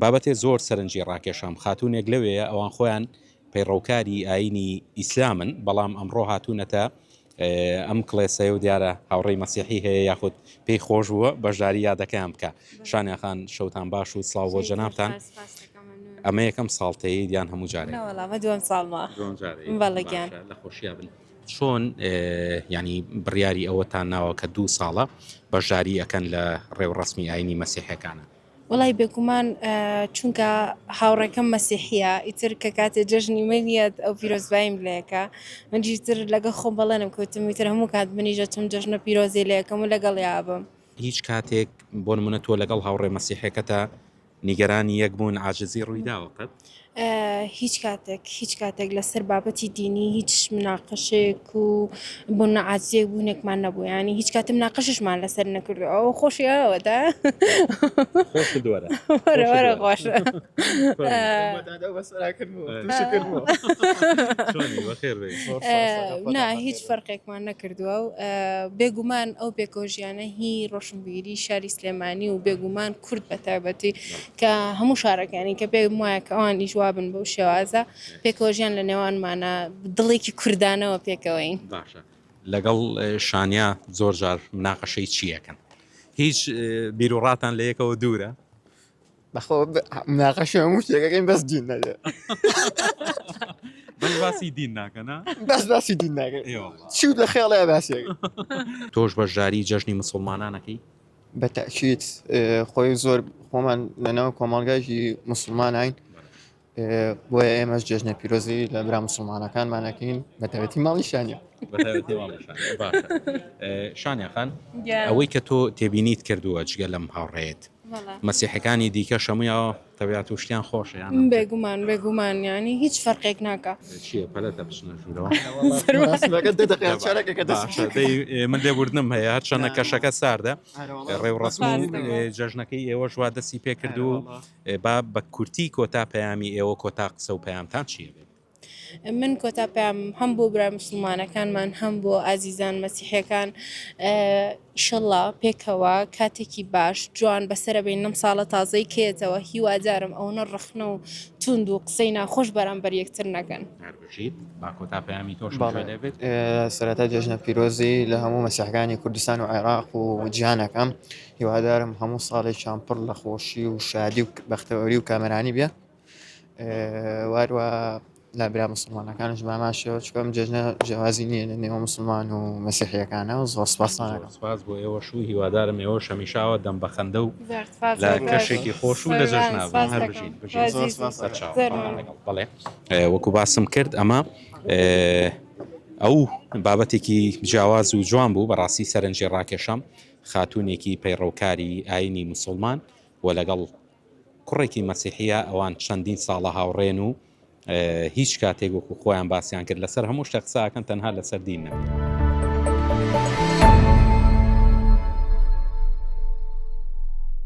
بابەتێ زۆر سەرنجی ڕاکێشام خاتوونێک لەوێیە ئەوان خۆیان پەیڕەوکاری ئایینی ئیسلامن بەڵام ئەمڕۆ هاتوونەتە ئەم کڵێسەیە و دیارە هاوڕێی مەسیحی هەیە یاخود پێی خۆش بووە بەشداری یادەکەیان بکە شانیاخان شەوتان باش و سلااو بۆ جەنابان ئەمە یەکەم ساڵتەیە دیان هەموو جارێ دوم ساڵمە بەڵگیان لە خۆشییا بن چۆن ینی بڕیاری ئەوەتان ناوە کە دوو ساڵە بەشداری ئەەکەن لە ڕێوڕسمی ئاینی مەسیحەکانە وەڵای بێگومان چونکە هاوڕێکەم مەسیحیە ئیتر کە کاتێ جەژنی منیەت ئەو پیرۆزبایم لەکە منجی تر لەگە خۆم بەڵێنم کەوتم ویتر هەموو کات منیژە چم جەژنە پیرۆزی لەکەم و لەگەڵ یابم. هیچ کاتێک بۆ نمونە تۆ لەگەڵ هاوڕێ مەسیحێکەتا نیگەرانی یەک بوون عاجزی ڕویداوە قەت؟ هیچ کاتێک هیچ کاتێک لەسەر بابەتی دینی هیچ مناقەشێک و بۆ نەعازیەک بوونێکمان نەبوو ینی هیچ کاتم ناقەششمان لەسەر نەکردو ئەو خۆشیەوەدا نا هیچ فەرقێکمان نەکردووە و بێگومان ئەو پێکۆژیانە هی ڕۆشنبیری شاری سلێمانی و بێگومان کورد بە تایبەتی کە هەموو شارەکانی کە پێم وایە کە ئەوان ئیش وابن بەو شێوازە پێکەوە ژیان لە نێوانمانە دڵێکی کوردانەوە پێکەوەین باشە لەگەڵ شانیا زۆر جار مناقەشەی چیەکەن هیچ بیرروڕاتان لە یەکەوە دوورە بەخۆ مناقەشی هەموو شتێکەکەین بەس دین نەێ بەس باسی دین ناکەنا بەس باسی دین ناگەن چوت لە خێڵەیە باسێک تۆش بەشداری جەژنی مسلمانانەکەی بە تەئکید خۆی زۆر خۆمان لەناو کۆمەڵگایکی مسلمانین بۆیە ئێمەش جێژنە پیرۆزی لە برا مسلمانەکانمانەکەین بە تەوێتی ماڵی شانە شانەخان ئەوەی کە تۆ تێبینیت کردووە جگە لەم هاوڕێت مەسیحەکانی دیکە شەمویەوە تەویات و شتیان خۆشە یان ئەم بێ گومان بێ گومان یانی هیچ فەرقێک ناکا چییە پەلەتە بچنە ژوورەوە مەراسمەکە دە دەقەیە چارەکێکە دەست باشە بکەوێت. دەی من لێ وردم هەیە هەرچەندە نا. کەشەکە ساردە ئارە وەڵا. ڕێ و ڕەسم و سپاس دەکەم. ئێ، جەژنەکەی ئێوەش وا دەستی پێ کرد ئارە و وەڵا. ئێ، با بە کورتی کۆتا پەیامی ئێوە کۆتا قسە و پەیامتان چییە بێت؟ من کۆتا پەیامم هەم بۆ برا مسوڵمانەکانمان هەم بۆ ئازیزان مەسیحیەکان ئیشەڵا پێکەوە کاتێکی باش جوان بەسرە بین نم ساڵە تازەی کێتەوە هیوادارم ئەوەنە ڕخنە و توند و قسەی ناخۆش بەرامبەر یەکتر نەکەن باکۆتا پەیامی تۆش دەبێت سەرەتا جێژنە پیرۆزی لە هەموو مەسیحەکانی کوردستان و عێراق و جیانەکەم هیوادارم هەموو ساڵێکیان پڕ لە خۆشی و شادی و بەختەوەری و کامرانی بێ واروا لابرا مسلمانەکانش بامان شێوە چکم جێژنە جیازی نیە لە نێوە مسلمان و مەسیحیەکانە و زۆر سپاسانەکەم سپاس بۆ ئێوە شو هیوادارم ئێوە شەمیشاوە دەم بەخەندە و لە کەشێکی خۆش و لە جەژنا هەر بژین بڵێ وەکو باسم کرد ئەمە ئەو بابەتێکی جیاواز و جوان بوو بەڕاستی سەرنجی ڕاکێشەم خاتونێکی پەیڕەوکاری ئاینی مسلمان و لەگەڵ کوڕێکی مەسیحیە ئەوان چەندین ساڵە هاوڕێن و هیچ کاتێک وەکو خۆیان باسیان کرد لەسەر هەموو شتە قساکەن تەنها لەسەر دین نەبوو.